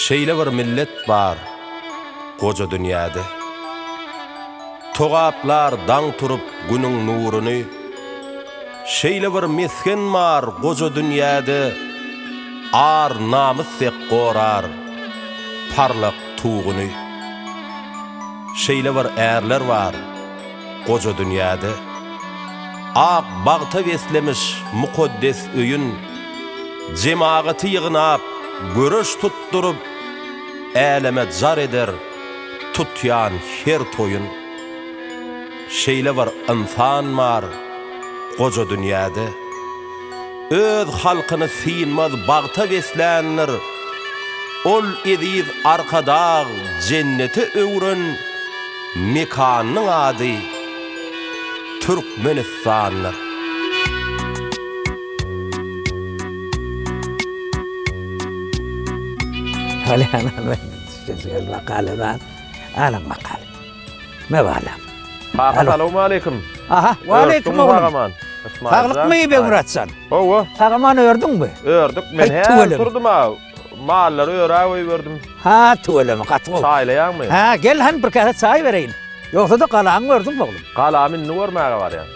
Şeýle bir millet bar goja dünýäde. Togaplar daň turup günüň nuruny. Şeýle bir mesgen bar goja dünýäde. Ar, namys dek gorar parlak tuguny. Şeýle bir ärler bar goja dünýäde, Ak bagta beslemiş mukaddes öýün, Jemagaty ýygnap, göreş tutduryp, Äleme jar eder tutýan her toýun. Şeýle bir ynsan bar goja dünýäde. Öz halkyny synmaz bagta besländir. Ol eziz Arkadag jennete öwren mekanynyň ady Türkmenistandyr. Salam. Makalada alyň makaly. Megalam. Kaka salowmaleýkim. Aha, waleýkim oglan. Saglykmy Begmyratjan? Hawa. Tagaman ördüňmi? Ördük men her turdum ha. Mallary örä goýberdim. Ha, tüweleme gaty gowy. Çaýlaýaňmy? Ha, gel han bir käse çaý bereýin. Ýogsa-da galaňy gördüňmi oglan? Galamy indi görmäge barýan.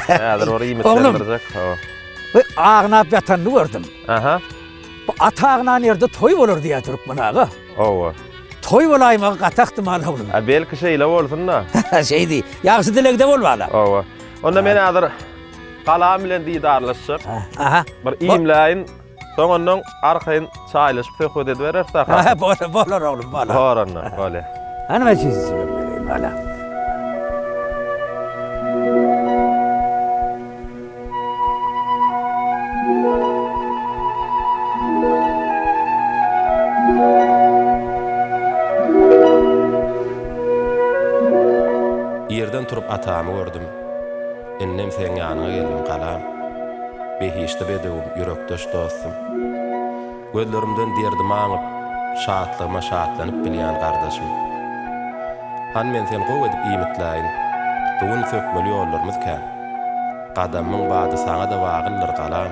Häzir bir iýmit berdirjek. Hawa. Bu agnap ýatanyny gördüm. Aha. Bu at agnan ýerde toý bolar diýýär türkmen aga. Hawa. Toý bolaýmagy gaty ahtimal oglan. A belki şeýle bolsun-da. Şeýdi. Ýagşy dilegde bol bala. Hawa. Onda men hazir galam bilen didarlaşjak. Aha. Bir iýmläýin. Soň ondan arkaýyn çaýlaşyp söhbet edibereris da. Aha, bolar, bolar oglum, bolar. Bor onda, bolýar. Hany men sizi sürüp bereýin, bala. Ýerden turup atamy gördüm. Indem seň ýanyňa geldim, galam. Behişdi bedewim, ýürekdeş dostum. Gözlerimden derdimi aňyp, şatlygyma şatlanyp bilýän gardaşym. Han men seni gowy edip iýmitläýin, bu gün sökmeli ýollarymyz kän. Gadamymyň bady saňa-da wagyldyr, galam.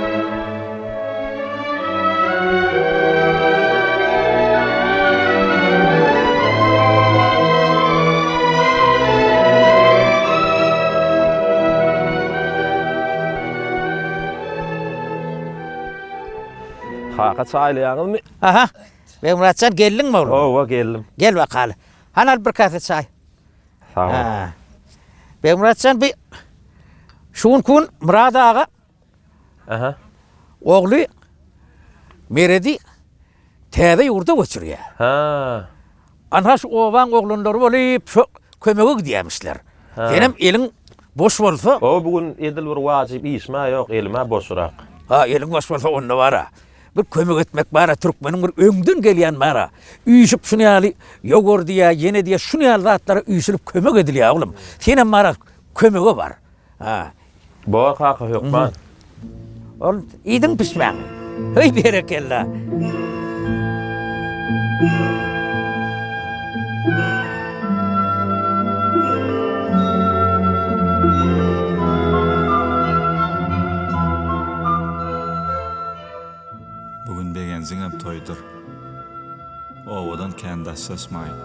Kaka çaýlaýaňyzmy? Aha. Begmyratjan geldiňmi oglan? Owa geldim. Gel bakaly. Han al bir kase çaý. Sag ol. Begmyratjan bir şu gün Murat aga Ogly Meredi täze ýurda göçürýär. Ana şu obaň oglanlary bolup şo kömege gidýämişler. Senem eliň boş bolsa. Ho bu gün edil bir wajyp işim-ä ýok, elim-ä boşurak. Ha eliň boş bolsa onda bar-a. Bir kömek etmek bar-a, türkmeniň bir öňden gelýän bar-a. Üýşüp şuny ýaly ýogurt diýýä, ýene diýýä şuny ýaly zatlara üýşülip kömek edilýä oglum. Senem bar-a kömege bar. Ha Bor kaka hökman. Ol iýdiň pişmäni. Heý berekella. Bu gün Begenjiňem toýdur. Obadan kän daşlaşmaýyn.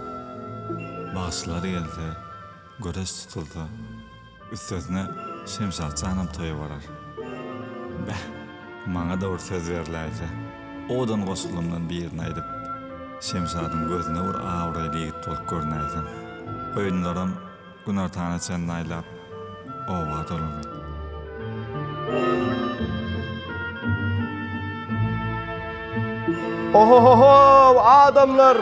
Bagşylar gelse, göreş tutulsa. Üstesine Şemşatjanam toýa barar. Beh, maňa-da bir söz berläýse, owadan goşgulymdan birini aýdyp, Şemşadyň gözüne bir abraýly ýigit bolup görünäýsem. Goýunlaram günortana çenli aýlap, oba dolany. Ho-ho-ho-how, adamlar!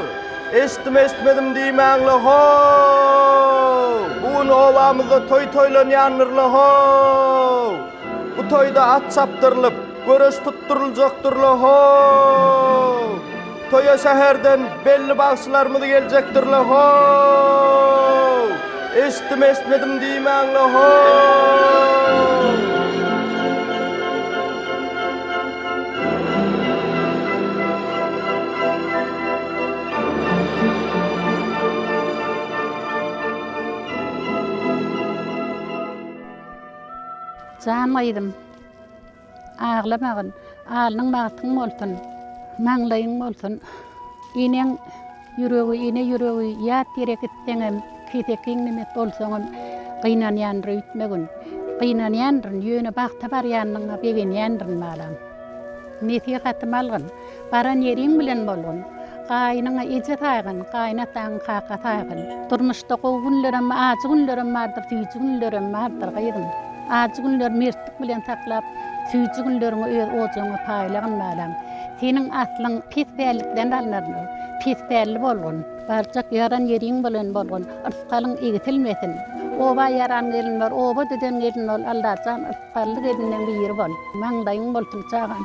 Eşitdim-eşitmedim diýmäň-le, ho-o-o-w! Bu gün obamyzda toý toýlanýandyr-la, ho-o-o-w! Bu toýda at çapdyrylyp, göreş tutduryljakdyr-la, ho-o-o-w! Toýa şäherden belli bagşylarymyz geljekdir-le, ho-o-o-w! Eşitdim-eşitmedim diýmäň-le, ho-o-o-w! Jan gyzym, aglamagyn, alnyň bagtyň bolsun, maňlaýyň bolsun. Eneň. Ýüregi ene ýüregi ýat ýere gitseňem keseki iňňemek bolsaňam gynanýandyr öýtmegin gynanýandyryn ýöne bagta barýanyňa begenýändirin balam nesihatym algyn baran ýeriň bilen bolgun gaýynyňa eje saýgyn gaýynataňy kaka saýgyn durmuşda gowy günlerem ajy günlerem bardyr süýji günlerem bardyr gyzym ajy günleri mertlik bilen saklap süýji günleriňi öz ojagyňa paýlagyn balam. Seniň aslyň pis pällikden alnarmy? Pis pälli bolgun. Barjak ýaran ýeriň bolan bolgun. Yrsgalyň igsilmesin. Oba ýaran gelin bor, oba düzen gelin bol, Allajan, yrsgally gelinden biri bol. Maňlaýyň bolsun, çagam.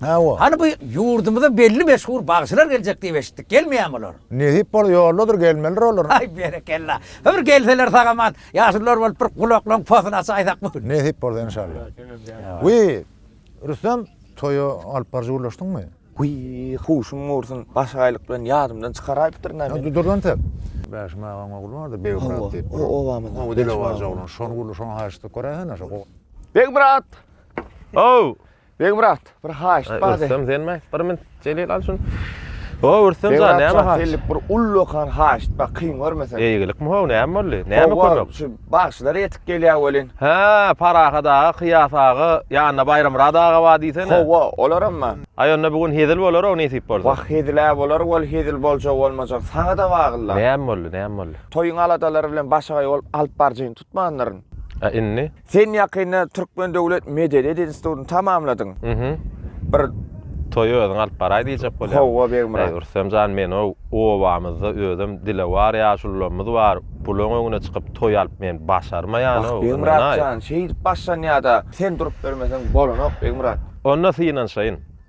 Hawa. Hany bu ýurdumyza belli meşhur bagşylar geljek diýip eşitdik, gelmeýämi olar? Nesip bolsa ýoldadyr, gelmelidir olar. Aý berekella. Bir gelseler sag-aman, ýaşulular bolup bir gulaklaryň posuny açaýsak bu gün. Nesip bolsa enşalla. Wiý, Rüstem, toýa alyp baryjy gürleşdiňmi? Wiý, huşum gursyn, başagaýlyk bilen ýadymdan çykaraýypdyryn-a men. Ýa, dur entek. Bäşim agaň ogly bar-da, Begmyrat diýip. Hawa, o obamyzda. Gowy dili barja oglan. Şony gürleşiň, haýyş edip göräýsene şo. Begmyrat! How! Beg brat, bir haýyşt bar. Rüstem sen mi? Bir min Jelil al şun. O Rüstem jan, näme haýyşt? Sellik bir ullakan haýyşt bar, kyn görmesen. Eýgilik mi ho, näme boldy? Näme kömek? Şu bagşylar ýetip gelýär welin. Hä, Parahat aga, Kyýas aga, ýanynda Baýramyrat aga bar diýsene. Hawa, olaram bar. Aý onda bu gün hezil bolar-ow nesip bolsa. Wah, hezil-ä bolar wol, hezil boljak bolmajak saňa-da bagly. Näme boldy, näme boldy? Toýuň aladalary bilen başagaý bolup alyp barjaýyny tutmandyryn. A indi? Sen ýakynda Türkmen döwlet medeniýet institutyny tamamladyň. Mhm. Bir toýy özüň alyp baraý diýjek bolýaň. Howwa Begmyrat. Eý Rüstem jan menow obamyzda özem dilewar ýaşulularymyz bar. Bulaň öňüne çykyp toý alyp men başarmaýan ow. Begmyrat jan şeýdip başlanýada sen durup bermeseň bolanok Begmyrat. Onda synanşaýyn.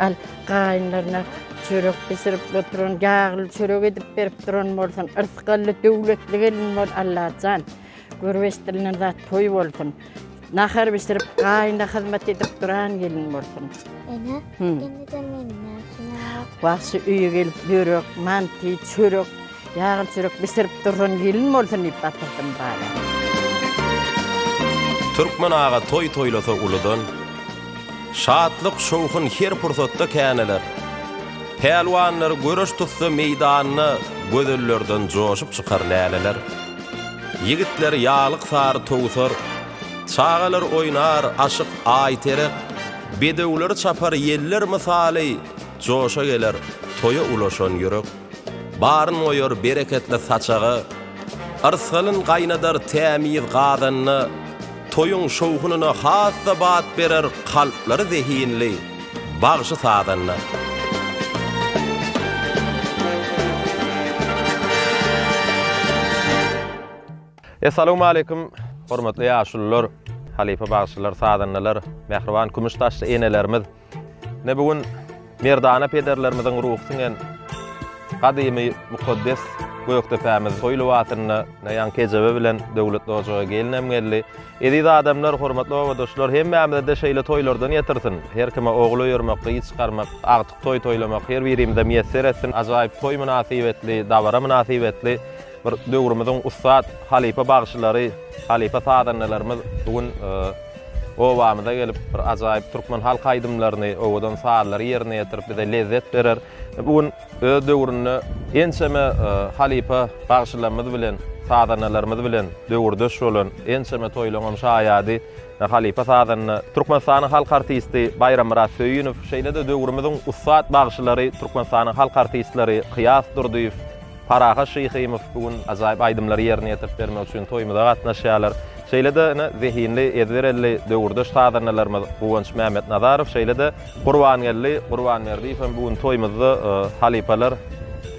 Al, gaýynlaryna çörek bişirip oturan, ýagly çörek edip berip duran bolsun. Yrsgally, döwletli gelin bol, Allajan. Görbeş dilinden zat toý bolsun. Nahar bişirip, gaýyna hyzmat edip duran gelin bolsun. Ene, indi-de meniň näçe Wagşy öýe gelip, börek, manty, çörek Ýagly çörek bişirip durran gelin bolsun diýip gatyrdym bala. Türkmen aga toý toýlasa uludan, Şatlyk, şowhun her pursatda käneler. Pälwanlar göreş tutsa meýdanda, Gözellerden joşup çykar läleler. Ýigitler ýaglyk sary towsar, Çagalar oýnar, aşyk Aýterek, Bedewleri çapar ýeller mysaly, Joşa geler, toýa ulaşan ýürek. Baryn goýar bereketli saçaga, Yrsgalyn gaýnadar tämiz gazanda, Toýuň şowhunyna has-da bat berer Kalplary zehinli bagşy-sazanda. Essalawmaleýkum, hormatly ýaşulular, halypa bagşylar, sazandalar, mähriban kümüş saçly enelerimiz! Ine bu gün merdana pederlerimiziň ruhy siňen gadymy mukaddes Gökdepämiz toý lybasynda Naýan kejebe bilen Döwlet ojaga gelinem geldi. Eziz adamlar, hormatly obadaşlar, hemmämize-de şeýle toýlardan ýetirsin. Her kime ogul öýermek, gyz çykarmak, agtyk toý toýlamak her birimize miýesser etsin. Ajaýyp toý mynasybetli, dabara mynasybetli bir döwrümiziň ussat halypa bagşylary, halypa sazandalarymyz bu gün Obamyza gelip, bir ajaýyp türkmen halk aýdymlaryny, owadan sazlary ýerine ýetirip, bize lezzet berer. Bu gün öz döwründe ençeme halypa bagşylarymyz bilen, sazandalarymyz bilen döwürdeş bolan, ençeme toýlaryň hem şaýady halypa sazanda, Türkmenistanyň halk artisti Baýrammyrat Söýünow, şeýle-de döwrümiziň ussat bagşylary, Türkmenistanyň halk artistleri Kyýas Durdyýew, Parahat Şyhymow bu gün ajaýyp aýdymlary ýerine ýetirip bermek üçin toýumyza gatnaşýarlar. Şeýle-de ine zehinli, ezber elli döwürdeş sazandalarymyz Guwanç Mämmetnazarow, şeýle-de Gurbangeldi Gurbanberdiýew hem bu gün toýumyzda. Halypalar,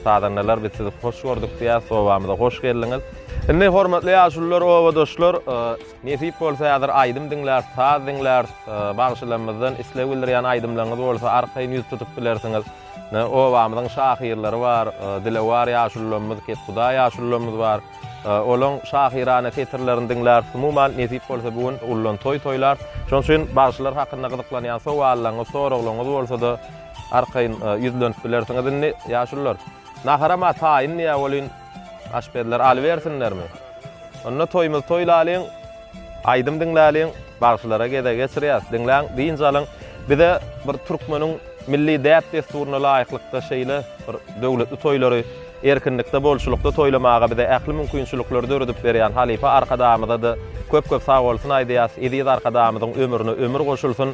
sazandalar biz sizi hoş gördük diýýäs, obamyza hoş geldiňiz. Indi hormatly ýaşulular, obadaşlar, nesip bolsa häzir aýdym diňläris, saz diňläris. Bagşylarymyzdan isleg bildirýän aýdymlaryňyz bolsa arkaýyn ýüz tutup bilersiňiz. Ine, obamyzyň şahyrlary bar, dilewar ýaşulularymyz, kethudaý ýaşulularymyz bar. Olaryň şahyrana setirlerini diňläris. Umuman, nesip bolsa, bu gün uludan toý toýlarys. Şonuň üçin bagşylar hakynda gyzyklanýan sowallaryňyz, soraglaryňyz bolsa-da, arkaýyn ýüzlenip bilersiňiz indi, ýaşulular. Naharam-a taýyn diýä welin, Aşpezler alybersinlermi? Onda toýumyzy toýlalyň, aýdym diňläliň, bagşylara gezek geçirýäs. Diňläň, dynç alyň. Bize bir türkmeniň milli däp-dessuryna laýyklykda şeýle bir döwletli toýlary erkinlikde, bolçulykda toýlamaga bize ähli mümkinçilikleri döredip berýän halypa Arkadagymyza-da köp-köp sagbolsun aýdýas. Eziz Arkadagymyzyň ömrüne ömür goşulsyn.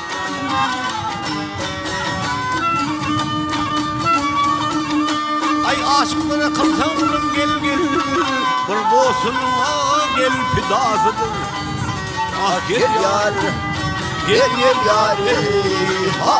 Aý aşyklara kylsaň zulum gel gel Bir dostuňa gel pidasydyr Ah gel ýar Gel gel ýar ey ha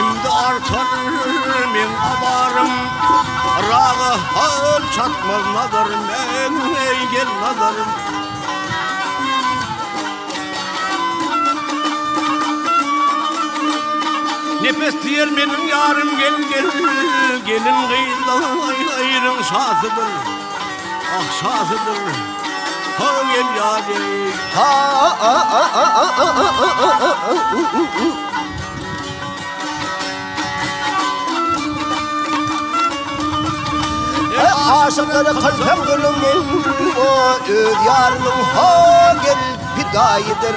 Indi artar men abarym Raga hal çatmaz nazar men ey gel nazarym Nefes diyer benim yarım gel gel Gelin kıyla ayrın şatıdır Ah şatıdır Ha gel yarim Ha aşyklary kylsam gülüm o öz ýarynyň ho gel pidaýydyr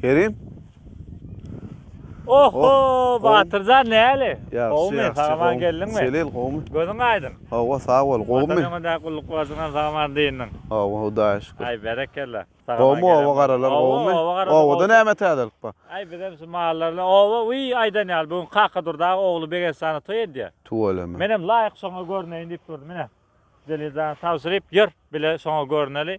Kerim. Oho, Batyrjan näli? Gowmy, sag-aman geldiňmi? Selil, gowmy? Gözüň aýdyň. Hawa, sag bol, gowmy? Watan öňünde gulluk bolsun, sag-aman dyndyň. Hawa, Hudaýa şükür. Aý, berekella. Gowmy, oba garalar gowmy? Obada näme täzelik bar? Aý, bizem şu mallar bilen. Oba, wiý, aýdan ýaly, bu gün Kakadurdy aga ogly Begestana toý edýär. Tüweleme. Menem laýyk şoňa görneýin diýip durdum. Ine, Zelil jana tabşyryp, ýör, bile şoňa görneli.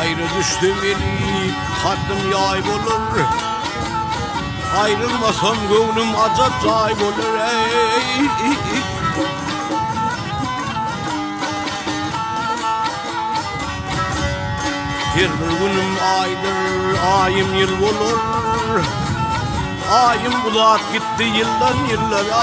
Aýra düşsem elip, haddym ýaý bolar, Aýrylmasam göwnüm ajap jaý bolar, eý. Her bir günüm aýdyr, aýym ýyl bolar. Aýym uzap gitdi ýyldan ýyllara.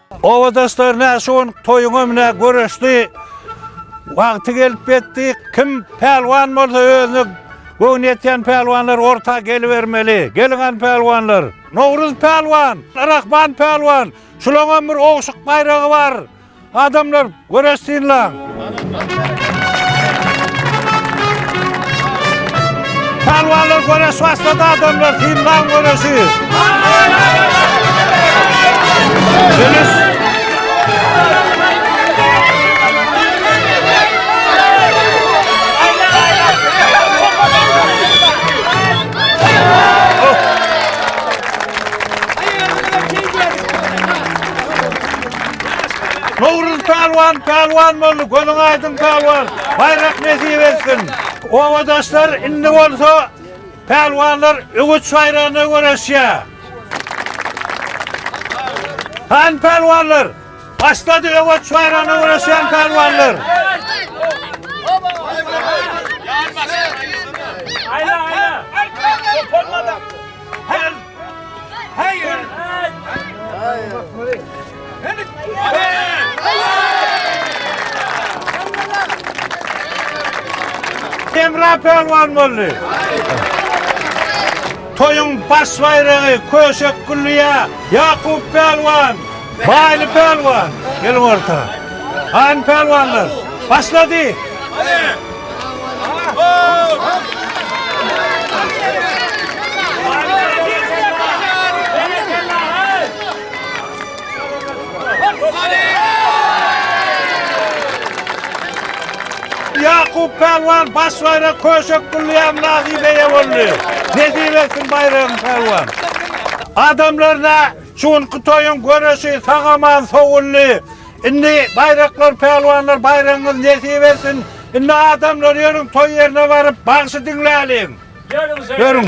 Obadaşlar nä şu gün toýuňam nä göreşdi. Wagty gelip ýetdi. Kim pälwan bolsa özüne göwni ýetýän pälwanlar orta gelibermeli. Geliň an pälwanlar. Nowruz pälwan, Rahman pälwan. Şulaňam bir ogşuk baýragy bar. Adamlar Göreşsin lan! Palwanlar göreş başlady adamlar, synlan göreşi! Dönüş! Nowruz pälwan pälwan boldy gözüň aýdyň pälwan baýrak nesip etsin. Obadaşlar indi bolsa pälwanlar öwüt şaýrana göreşýär. Hany pälwanlar başlady öwüt şaýrana göreşýän pälwanlar. Aýla aýla. Her Hemra Pälwan boldy. Toýuň baş baýragy Köşek Gülliýa, Ýakup Pälwan. Baýly pälwan, gel orta! Han pälwanlar, başlady! Ýakup pälwan baş baýrak Köşek Gullyýam nasibe eýe boldy. Nesip etsin baýragyň pälwan! Adamlaryna Şu günki toýuň göreşi sag-aman sowuldy. Indi baýraklar pälwanlar baýragyňyz nesip etsin. Indi adamlar ýörüň toý ýerine baryp bagşy diňläliň. Ýörüň.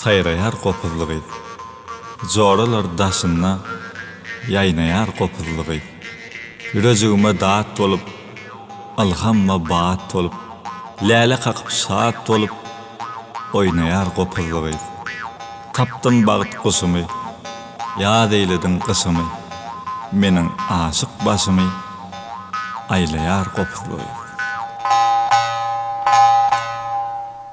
Saýraýar gopuzly gyz. Joralar daşynda ýaýnaýar gopuzly gyz. Ýürejigime dat bolup, ylhamma bat bolup, läle kakyp şat bolup, oýnaýar gopuzly gyz. Tapdym bagt guşumy, ýaz eýlediň gyşymy, meniň aşyk başymy aýlaýar gopuzly gyz.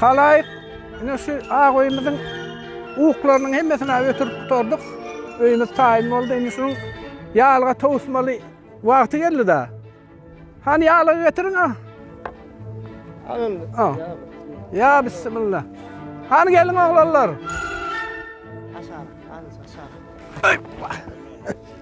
Halaýyk, ine şu ak öýümiziň uklarynyň hemmesini ötürip gutardyk. Öýümiz taýyn boldy. Indi şunuň ýalga towusmaly wagty geldi-de. Hany ýalga getiriň, a. Al. Ýa bismillah. Hany geliň oglanlar. Aşagyna, aşagyna.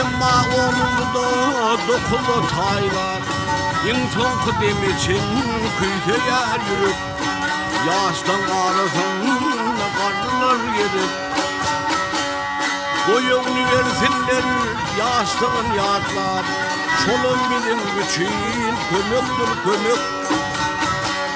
Emma onuň buda dokuz ataý bar. Iň soňky deme çenli küýseýär ýürek. Ýaşlaň arasynda garrylar gezek. Boýuny bersinler ýaşlygyny ýatlap. Şolam biziň üçin kömekdir kömek.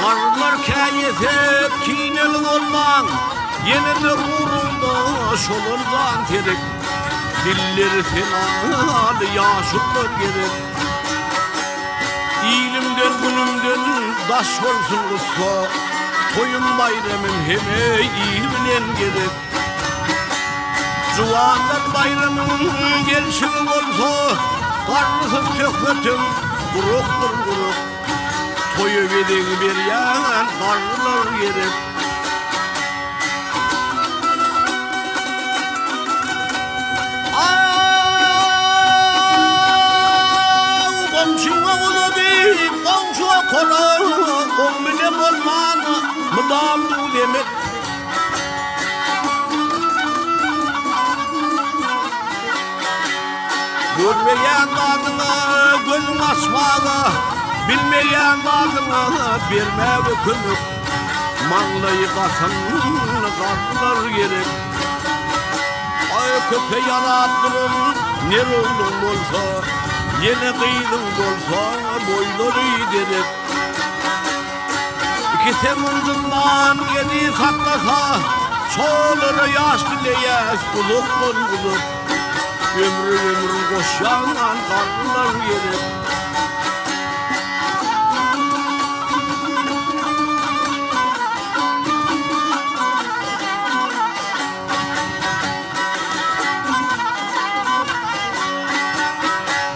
Garlar käýesek kineli bolmaň, Ýene-de ugrunda şolar jan terek. Dilleri senaly ýaşullar gerek. Ilimden, günümden daş bolsun gussa, Toýum-baýramym hemme il bilen gezek. Juwanlar baýramyň gelşiň bolsa, Garrysyz söhbetim gurakdyr gurak. Toýa gezeg berýän garrylar gerek. Mydam duz emek. Görmeýän zadyňa gözüň açmaga Bilmeýän zadyňa bermäge kömek Maňlaýy gasan zatlar gerek Aý köpe ýalap duran ner ogluň bolsa Ýene gyzyň bolsa boýlary derek Iki semindyndan gedi saklasa, Çolara ýaş dileýäs uzakdan uzak. Ömre ömür goşýandan garrylar gerek.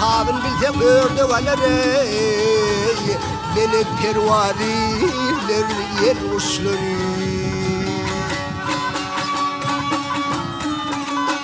Tabyn bilse ördek alar ey Belek perwariler ýel guşlary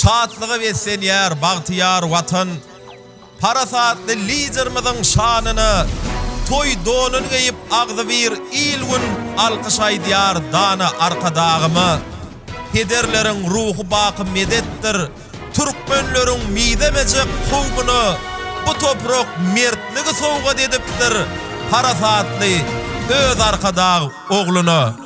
Şatlyga beslenýär bagtyýar Watan! Parasatly Liderimiziň şanyna toý donuny geýip agzybir il-gün alkyş aýdýar dana Arkadagyma. Pederleriň ruhy baky medetdir Türkmenleriň mizemejek kowmuna bu toprak mertligi sowgat edipdir Parasatly öz Arkadag ogluna.